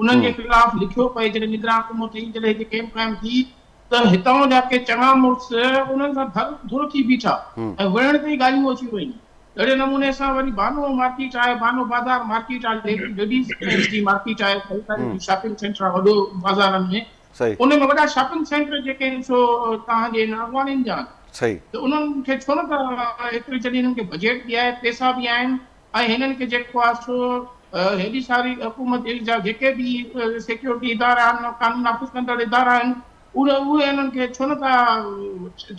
انهن جي خلاف لکيو پئي جڏهن نگران حڪومت هئي جڏهن هتي ڪئمپ قائم ٿي ته هتان جا ڪي چڱا مڙس انهن سان ڌر ڌر ٿي بيٺا ۽ وڙهڻ تي ئي ڳالهيون اچي ويون اهڙي نموني سان وري بانو مارڪيٽ آهي بانو بازار مارڪيٽ آهي جيڪي ليڊيز جي مارڪيٽ آهي خريداري جي شاپنگ سينٽر آهي وڏو بازارن ۾ ان ۾ وڏا شاپنگ سينٽر جيڪي آهن سو توهان جي هن اڳواڻين جا آهن ته انهن کي ڇو نه ته هيتري جڏهن انهن کي بجيٽ به آهي پئسا به آهن ۽ هنن کي جيڪو آهي سو هيڏي ساري حڪومت جا جيڪي به سيڪيورٽي ادارا آهن، قانون نافذ ڪندڙ ادارا آهن، اهي انهن کي ڇو نه ٿا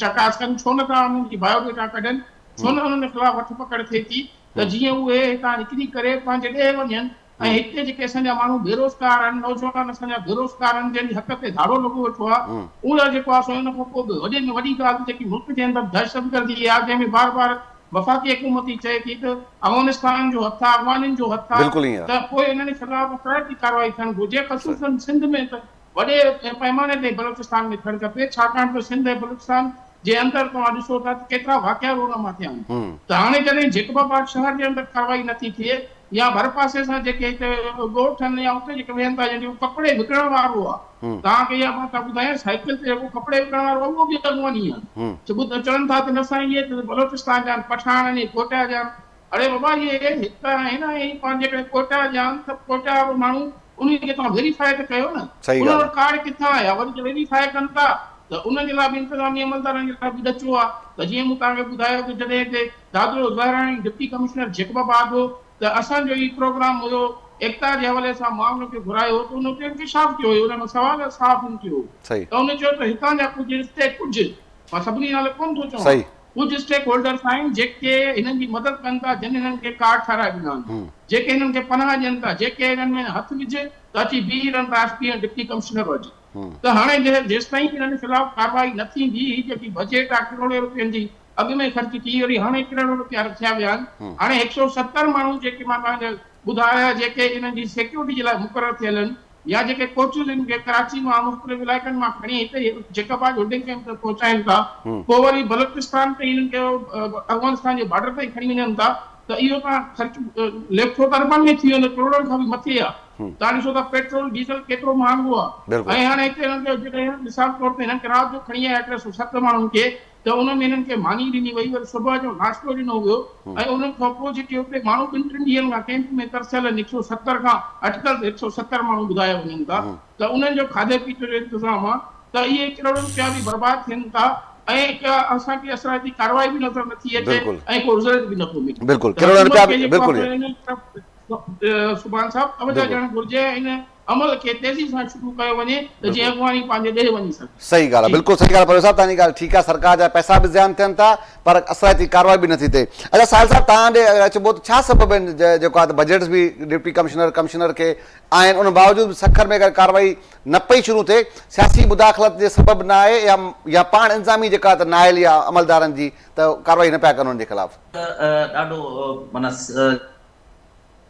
چڪاس ڪن، ڇو نه ٿا انهن جي بايو ڊيٽا ڪڍن، ڇو نه انهن خلاف وٺ پڪڙ ٿئي ٿي ته جيئن اهي هتان نڪري ڪري پنهنجي ڏيهه وڃن. ۽ هتي جيڪي اسان جا ماڻهو بيروزگار آهن، نوجوان اسان جا بيروزگار آهن، جنهن جي حق تي ڌاڙو لڳو ويٺو آهي، اهو جيڪو آهي سو ان کان پوء به وڏي ۾ وڏي ڳالهه ته جيڪي ملڪ جي اندر دهشتگردي آهي، جنهن ۾ بار بار وفاقي حڪومت ئي چئي ٿي ته افغانستانن جو هٿ آهي، افغانين جو هٿ آهي ته پوء انهن خلاف ڪهڙي ڪارروائي ٿيڻ گهرجي، خصوصن سنڌ ۾ ته وڏي پئماني تي بلوچستان ۾ ٿيڻ کپي ڇاڪاڻ ته سنڌ ۽ بلوچستان جي اندر توهان ڏسو ٿا ته ڪيترا واقعا رون مان ٿيا آهن ته هاڻي جڏهن جيڪب آباد شهر جي اندر ڪارروائي نه ٿي ٿئي يا ڀرپاسي سان جيڪي هتي ڳوٺ آهن يا اتي جيڪي ويهن ٿا جيڪو ڪپڙي وڪڻڻ وارو آهي توهان کي اها بات ٻڌايان سائيڪل تي جيڪو ڪپڙي وڪڻڻ وارو آهي اهو به اڳواڻي آهي سو ٻڌ چون ٿا ته نه سائين اهي ته بلوچستان جا آهن پٺاڻ آهن اهي ڪوئٽا جا آهن اڙي بابا اهي هت آهن ۽ پاڻ جيڪڏهن ڪوئٽا جا آهن ته ڪوئٽا وارو ماڻهو انهي کي توهان ويريفائي ته ڪيو نه. صحيح ان ڳالهه وٽ آ. ڪارڊ ڪٿان آيا وري جي ويريفائي ڪن ٿا ته ان جي لاء به انتظامي عملدارن جي لاء به ڏچو آ ته جيئن مون توهان کي ٻڌايو ته جڏهن هتي دادڙو زهراڻي ڊپٽي ڪمشنر جيڪب آباد هو ته اسان جو هي پروگرام هيو ايڪتا جي حوالي سان مان ان کي گهرايو هو ته ان اتي انڪشاف ٿيو هيو ان مان سوال صحافين ٿيو هو صحيح. ته ان چيو ته هتان جا ڪجهه رشتي ڪجهه مان سڀني نالي ڪونه ٿو چوان صحيح. ڪجهه اسٽيڪ هولڊرز آهن جيڪي هنن جي مدد ڪن ٿا جن هنن کي ڪارڊ ٺهرائي ڏنا آهن جيڪي هنن کي پناهه ڏين ٿا جيڪي هنن ۾ هٿ وجهه ته اچي بيهي رهن ٿا ايف پي ۽ ڊپٽي ڪمشنر وٽ ته هاڻي جيستائين هنن خلاف ڪارروائي نه ٿيندي هي جيڪي بجيٽ آهي ڪروڙين رپين جي اڳ ۾ خرچ ٿي وري هاڻي ڪروڙ رپيا رکيا ويا آهن هاڻي هڪ سؤ ستر ماڻهو جيڪي مان توهان کي ٻڌايا جيڪي هنن جي سيڪيورٽي جي لاء مقرر ٿيل آهن يا جيڪي ڪوچون جن کي ڪراچي مان مختلف علائقن مان کڻي هتي جيڪب آج هولڊنگ ڪيمپ تي پهچائين ٿا پوء وري بلوچستان تي انهن کي افغانستان جي بارڊر تائين کڻي وڃن ٿا ته اهو تان خرچ ليکو ته اربن ۾ ٿي ويندو ڪروڙن کان به مٿي آ تان ڏسو ته پيٽرول ڊيزل ڪيترو مهانگو آ ۽ هاڻي هتي هنن کي جيڪڏهن مثال طور تي هنن کي رات جو کڻي آيا ٽي سؤ ست ماڻهن کي ته ان ۾ انهن کي ماني ڏني وئي وري صبح جو ناشتو ڏنو ويو ۽ انهن کان پوء جيڪي اتي ماڻهو ٻن ٽن ڏينهن کان ڪئمپ ۾ ترسيل آهن هڪ سؤ ستر کان اٽڪل ته هڪ سؤ ستر ماڻهو ٻڌايا وڃن ٿا ته انهن جو کاڌي پيتي جو انتظام آهي ته اهي ڪروڙين رپيا به برباد ٿين ٿا ۽ ڪا اسان کي اثرائتي ڪارروائي به نظر نٿي اچي ۽ ڪو رزلٽ به نٿو ملي ته حڪومت کي جيڪو آهي سو سبحان صاحب توجه ڏيڻ گهرجي ۽ عمل کي تيزي سان شروع ڪيو وڃي ته جيئن اڳواڻي پنهنجي ڏيهه وڃي سگهي. صحيح ڳالهه آهي بلڪل صحيح ڳالهه پروهيت صاحب تهانجي ڳالهه ٺيڪ آهي سرڪار جا پئسا به زيان ٿين ٿا پر اثرائتي ڪارروائي به نٿي ٿئي اچا ساحل صاحب تهان ڏي اگر اچبو ته ڇا سبب آهن جيڪو آهي ته بجيٽس به ڊپٽي ڪمشنر ڪمشنر کي آهن ان باوجود به سکر ۾ اگر ڪارروائي نه پئي شروع ٿئي سياسي مداخلت جي سبب نه آهي يا يا پاڻ انظامي جيڪا آهي ته نااهل يا عملدارن جي ته ڪارروائي نه پيا ڪن ان جي خلاف. ته ڏاڍو معنيٰ.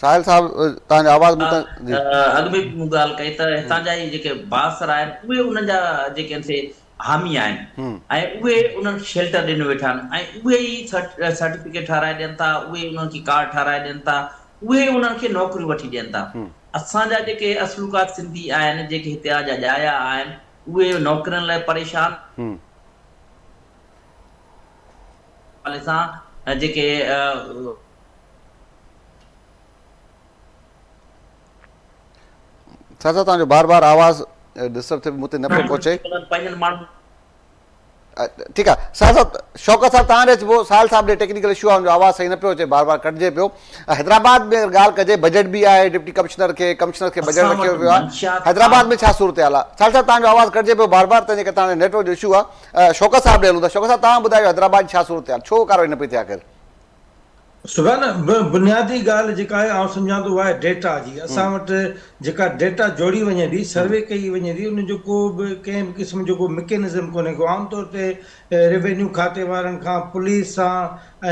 ساحل صاحب توهان جو آواز مون تائين جي اڳ به مون ڳالهه ڪئي ته هتان جا هي جيڪي بااثر آهن اهي انهن جا جيڪي آهن سي حامي آهن ۽ اهي انهن کي شيلٽر ڏنو ويٺا آهن ۽ اهي ئي سرٽيفڪيٽ ٺهرائي ڏين ٿا اهي ئي انهن کي ڪارڊ ٺهرائي ڏين ٿا اهي ئي انهن کي نوڪريون وٺي ڏين ٿا اسان جا جيڪي اصلوڪا سنڌي آهن جيڪي هتي آ جا ڄايا آهن اهي نوڪرين لاء پريشان حوالي سان جيڪي چاچا توهان جو بار بار آواز ڊسٽرب ٿي مون تي نه پيو پهچي پنهنجن ماڻهن ٺيڪ آ ساحل صاحب شوڪت صاحب تان ڏي اچبو ساحل صاحب ڏي ٽيڪنيڪل اشو آ ان جو آواز صحيح نه پيو اچي بار بار ڪٽجي پيو حيدرآباد ۾ ڳالهه ڪجي بجيٽ به آهي ڊپٽي ڪمشنر کي ڪمشنر کي بجيٽ رکيو ويو آهي حيدرآباد ۾ ڇا صورتحال آ ساحل صاحب تان جو آواز ڪٽجي پيو بار بار تنهنجي ڪري تان ڏي نيٽ ورڪ جو اشو آ شوڪت صاحب ڏي هلون ٿا. شوڪت صاحب توهان ٻڌايو حيدرآباد جي ڇا صورتحال ڇو ڪارروائي نه پئي ٿئي آخر. سگان بنيادي ڳالهه جيڪا آهي آئون سمجهان ٿو اها آهي ڊيٽا جي اسان وٽ جيڪا ڊيٽا جوڙي وڃي ٿي سروي ڪئي وڃي ٿي ان جو ڪو به ڪنهن به قسم جو ڪو مڪينزم ڪونهي ڪو عام طور تي روينيو کاتي وارن کان پوليس سان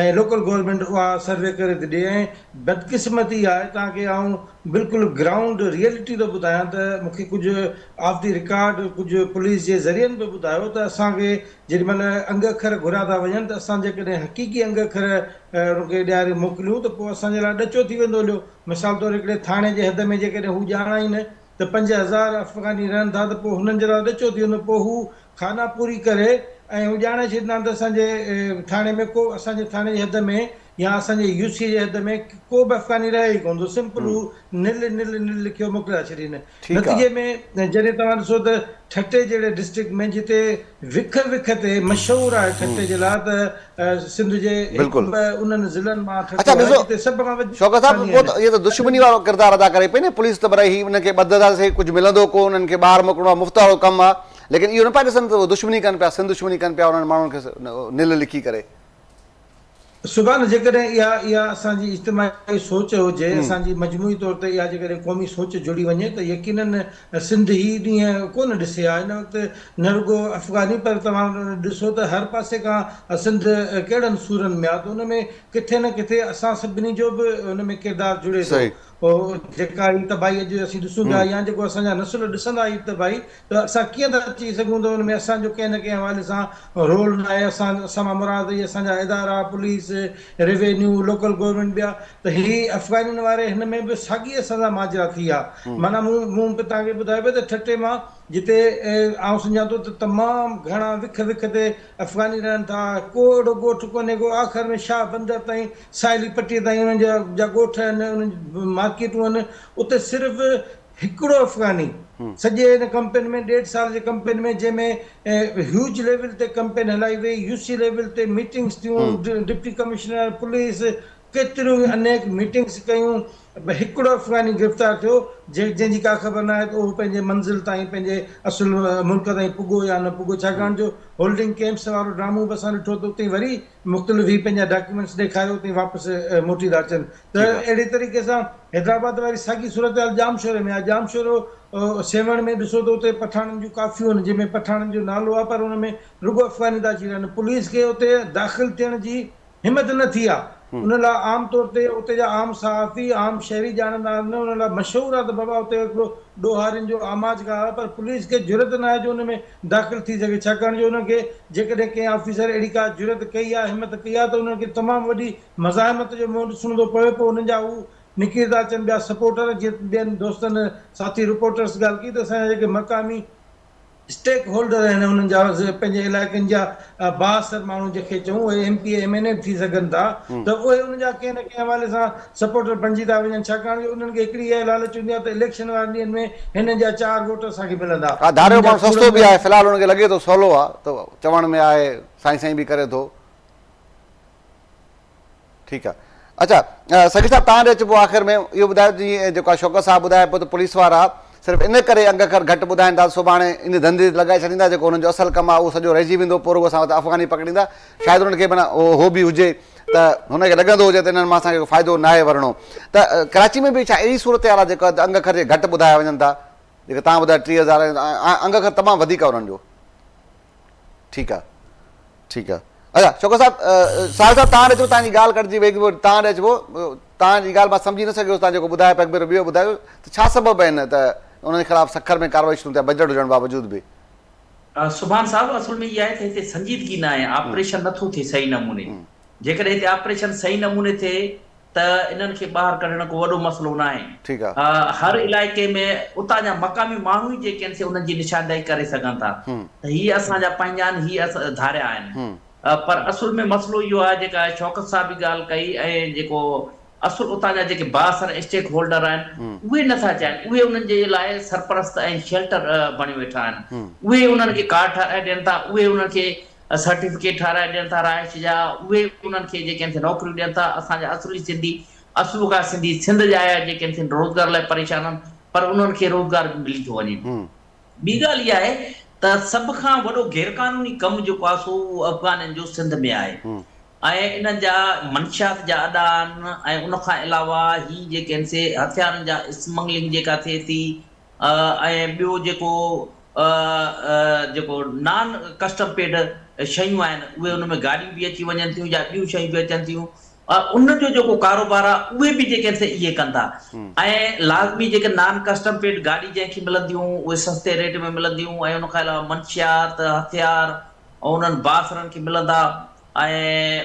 ۽ لوڪل گورنمينٽ اها سروي ڪري ٿي ڏي ۽ بدقسمتي آهي تان ڪي آئون بلڪل گرائونڊ ريئلٽي ٿو ٻڌايان ته مون کي ڪجهه آف دي رڪارڊ ڪجهه پوليس جي ذريعن به ٻڌايو ته اسان کي جيڏي مهل انگ اکر گهريا ٿا وڃن ته اسان جيڪڏهن حقيقي انگ اکر انهن کي ڏياري موڪليون ته پوء اسان جي لاء ڏچو ٿي ويندو هليو مثال طور هڪڙي ٿاڻي جي حد ۾ جيڪڏهن هو ڄاڻائين ته پنج هزار افغاني رهن ٿا ته پوء هنن جي لاء ڏچو ٿي ويندو پوء هو خاناپوري ڪري ۽ هو ڄاڻائي ڇڏيندا ته اسان جي ٿاڻي ۾ ڪو اسان جي ٿاڻي جي حد ۾ يا اسان جي يو سي جي حد ۾ ڪو به افغاني رهي ئي ڪونه ٿو سمپل هو نل نل نل لکيو موڪليا ڇڏين نتيجي ۾ جڏهن توهان ڏسو ته ٺٽي جهڙي ڊسٽرڪٽ ۾ جتي وک وک تي مشهور آهي ٺٽي جي لاء ته سنڌ جي هڪ به انهن ضلعن مان ٺٽو آهي جتي سڀ کان وڌيڪ افغاني آهن. اهي ته دشمني وارو ڪردار ادا ڪري پئي نه پوليس ته برائي هي انهن کي ٻڌ ادا سهي ڪجهه ملندو ڪو انهن کي ٻاهر موڪلڻو آهي مفت وارو ڪم آهي ليڪن اهو نه پيا ڏسن ته دشمني ڪن پيا سنڌ دشمني ڪن پيا انهن ماڻهن کي نل لکي ڪري سبحان جيڪڏهن اها اها اسان جي اجتماعي سوچ هجي هم اسان جي مجموعي طور تي اها جيڪڏهن قومي سوچ جڙي وڃي ته يقينن سنڌ هي ڏينهن ڪونه ڏسي آ هن وقت نه رڳو افغاني پر توهان ڏسو ته هر پاسي کان سنڌ ڪهڙن سورن ۾ آ ته ان ۾ ڪٿي نه ڪٿي اسان سڀني جو به ان ۾ ڪردار جڙي ٿو صحيح جيڪا هي تباهي اڄ اسين ڏسون پيا هم يا جيڪو اسان جا نسل ڏسندا هي تباهي ته اسان ڪيئن ٿا چئي سگهون ته ان ۾ اسان جو ڪنهن نه ڪنهن حوالي سان رول ناهي، اسان اسان مان مراد اهي اسان جا ادارا، پوليس، روينيو، لوڪل گورنمينٽ ٻيا ته هي افغانين واري هن ۾ به ساڳي اسان سان ماجرا ٿي آ، معنيٰ مون مون به توهان کي ٻڌايو پئي ته ٺٽي مان جتي آئون سمجهان ٿو ته تمام گهڻا وک وک تي افغاني رهن ٿا، ڪو اهڙو ڳوٺ ڪونهي ڪو آخر ۾ شاهه بندر تائين ساحلي پٽي تائين انهن جا جا ڳوٺ آهن انهن جون مارڪيٽون آهن اتي صرف هڪڙو افغاني سڄي ان ڪمپين ۾ ڏيڍ سال جي ڪمپين ۾ جنهن ۾ هيوج ليول تي ڪمپين هلائي وئي، يو سي ليول تي ميٽنگس ٿيون، ڊپٽي ڪمشنر پوليس ڪيتريون ئي انيڪ ميٽنگس ڪيون پر هڪڙو افغاني گرفتار ٿيو جنهن جي ڪا خبر ناهي ته اهو پنهنجي منزل تائين پنهنجي اصل ملڪ تائين پڳو يا نه پڳو ڇاڪاڻ جو هولڊنگ ڪيمپس وارو ڊرامو به اسان ڏٺو ته اتي وري مختلف هي پنهنجا ڊاڪيومينٽس ڏيکاري اتي واپس موٽي ٿا اچن ته ٺيڪ آ. اهڙي طريقي سان حيدرآباد واري ساڳي صورتحال ڄامشوري ۾ آهي ڄامشورو سيوهڻ ۾ ڏسو ته اتي پٺاڻن جون ڪافيون آهن جنهن ۾ پٺاڻن جو نالو آهي پر ان ۾ رڳو افغاني ٿا اچي رهن پوليس کي اتي داخل ٿيڻ جي همت نه ٿي آهي ان لاء عام طور تي اتي جا عام صحافي عام شهري ڄاڻندا آهن ان لاء مشهور آهي ته بابا اتي هڪڙو ڏوهارين جو آماج گاهه آهي پر پوليس کي جرئت نه آهي جو ان ۾ داخل ٿي سگهي ڇاڪاڻ جو انهن کي جيڪڏهن ڪنهن آفيسر اهڙي ڪا جرئت ڪئي يا همت ڪئي آهي ته انهن کي تمام وڏي مزاحمت جو منهن ڏسڻو ٿو پوي پوء انهن جا هو نڪري ٿا اچن ٻيا سپورٽر جيئن ٻين دوستن ساٿي رپورٽرس ڳالهه ڪئي ته اسان جا جيڪي مقامي اسٽيڪ هولڊر آهن انهن جا پنهنجي علائقن جا بااثر ماڻهو جنهن کي چئون اهي M P A M N A به ٿي سگهن ٿا ته اهي ان جا ڪنهن نه ڪنهن حوالي سان سپورٽر بڻجي ٿا وڃن ڇاڪاڻ جو انهن کي هڪڙي اها لالچ هوندي آهي ته اليڪشن وارن ڏينهن ۾ هنن جا چار ووٽ اسان کي ملندا ها ڌاريو ماڻهو سستو به آهي في الحال هن کي لڳي ٿو سولو آهي ته چوڻ ۾ آهي سائين سائين به ڪري ٿو. ٺيڪ آ اچا سڳي صاحب تهان ڏي اچبو آخر ۾ اهو ٻڌايو جي جيڪو شوڪت صاحب ٻڌايو پيو ته پوليس وارا صرف ان ڪري انگ اکر گهٽ ٻڌائين ٿا سڀاڻي ان ڌنڌي تي لڳائي ڇڏيندا جيڪو هنن جو اصل ڪم آ اهو سڄو رهجي ويندو پورو اسان وٽ افغاني پڪڙيندا شايد هنن کي به هو به هجي ته هن کي لڳندو هجي ته انهن مان اسان کي ڪو فائدو ناهي ورڻو ته ڪراچي ۾ به ڇا اهڙي صورتحال آ جيڪا انگ اکر جي گهٽ ٻڌايا وڃن ٿا جيڪا تهان ٻڌايو ٽي هزار انگ اکر تمام وڌيڪ آ انهن جو ٺيڪ آ ٺيڪ آ اچا شوڪت صاحب ساحل صاحب تان اچو تان جي ڳالھ ڪٽجي وئي ٿي تان اچو تان جي ڳالھ مان سمجھي نه سگھيس تان جيڪو ٻڌايو پيغمبر ربيع ٻڌايو ته ڇا سبب آھن ته انھن جي خلاف سکر ۾ ڪارروائي شروع ٿيا بجٽ ھجڻ باوجود به سبحان صاحب اصل ۾ اھا آھي ته ھتي سنجيدگي نه آھي آپريشن نه ٿو ٿئي صحيح نموني جيڪڏهن هتي آپريشن صحيح نموني ٿئي ته انهن کي ٻاهر ڪڍڻ ڪو وڏو مسئلو ناهي. ٺيڪ آ. هر علائقي ۾ اتان جا مقامي ماڻهو ئي جيڪي آهن سي انهن جي نشاندهي ڪري سگهن ٿا ته هي اسان جا پنهنجا آهن هي ڌاريا آهن پر اصل ۾ مسئلو اهو آهي جيڪا شوڪت صاحب به ڳالهه ڪئي ۽ جيڪو اصل اتان جا جيڪي بااثر اسٽيڪ هولڊر آهن اهي نه ٿا چاهين اهي انهن جي لاء سرپرست ۽ شيلٽر بڻيو ويٺا آهن اهي ئي انهن کي ڪارڊ ٺاهرائي ڏين ٿا اهي انهن کي سرٽيفڪيٽ ٺاهرائي ڏين ٿا رهائش جا، اهي انهن کي جيڪي اٿي نوڪريون ڏين ٿا، اسان جا اصلي سنڌي، اصلو کان سنڌي سنڌ جا آيا جيڪي اٿي روزگار لاء پريشان آهن پر انهن کي روزگار به ملي ٿو وڃي. ٻي ڳالهه اها آهي ته سڀ کان وڏو غيرقانوني ڪم جيڪو آهي سو اهو افغانين جو سنڌ ۾ آهي ۽ انهن جا منشيات جا اڏا آهن ۽ ان کان علاوه هي جيڪي آهن سي هٿيارن جا اسمگلنگ جيڪا ٿئي ٿي ۽ ٻيو جيڪو ا جيڪو نان ڪسٽم پيڊ شيون آهن اهي ان ۾ گاڏيون به اچي وڃن ٿيون يا ٻيون شيون به اچن ٿيون ان جو جيڪو ڪاروبار آهي اهي به جيڪي سي اهي ڪن ٿا ۽ لازمي جيڪي نان ڪسٽم پيڊ گاڏي جنهن کي ملنديون اهي سستي ريٽ ۾ ملنديون ۽ ان کان علاوه منشيات هٿيار انهن بااثرن کي ملندا ۽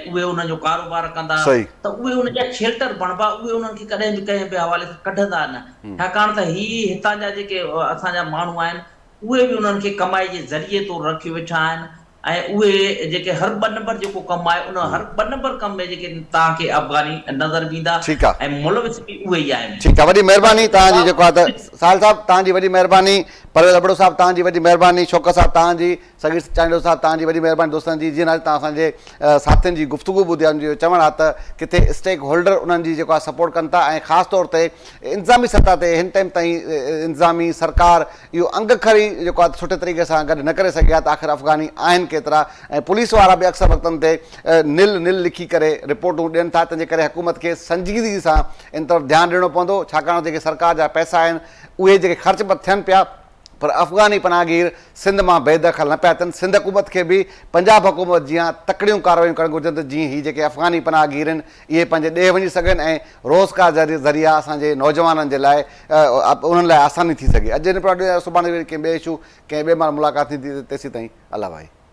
اهي ان جو ڪاروبار ڪندا صحيح. ته اهي ان جا شيلٽر بڻبا، اهي انهن کي ڪڏهن به ڪنهن به حوالي سان ڪڍندا نه، ڇاڪاڻ ته هي هتان جا جيڪي اسان جا ماڻهو آهن، اهي به انهن کي ڪمائي جي ذريعي طور رکيو ويٺا آهن ۽ اهي جيڪي هر ٻه نمبر جيڪو ڪم آهي، ان هر ٻه نمبر ڪم ۾ جيڪي توهان کي افغاني نظر به ايندا ٺيڪ آ. ۽ ملوث به اهي ئي آهن. ٺيڪ آ، وڏي مهرباني بس توهان جي جواب جيڪو آ ته ساحل صاحب توهان جي وڏي مهرباني، پرويز ابڙو صاحب توهان جي وڏي مهرباني، شوڪت صاحب توهان جي. سڳير چانڊيو صاحب توهان جي وڏي مهرباني دوستن جي جنهن اڄ توهان اسان جي ساٿين جي گفتگو ٻڌي آهي ان جو اهو چوڻ آهي ته ڪٿي اسٽيڪ هولڊر انهن جي جيڪو آهي سپورٽ ڪن ٿا ۽ خاص طور تي انتظامي سطح تي هن ٽائيم تائين انتظامي سرڪار اهو انگ کڙي جيڪو آهي سٺي طريقي سان گڏ نه ڪري سگهي آهي ته آخر افغاني آهن ڪيترا ۽ پوليس وارا به اڪثر وقتن تي نل نل لکي ڪري رپورٽون ڏين ٿا تنهنجي ڪري حڪومت کي سنجيدگي سان ان طرف ڌيان ڏيڻو پوندو ڇاڪاڻ جيڪي سرڪار جا پئسا آهن اهي جيڪي خرچ به ٿين پيا پر افغاني پناهگير سنڌ مان بي دخل نه پيا اچن، سنڌ حڪومت کي به پنجاب حڪومت جيان تڪڙيون ڪارروايون ڪرڻ گهرجن ته جيئن هي جيڪي افغاني پناهگير آهن اهي پنهنجي ڏيهه وڃي سگهن ۽ روزگار جا ذريعا اسان جي نوجوانن جي لاء انهن لاء آساني ٿي سگهي اڄ هن پروگرام سڀاڻي وري ڪنهن ٻئي اشو ڪنهن ٻئي ماڻهو ملاقات ٿيندي تيسين تائين الله ڀائي.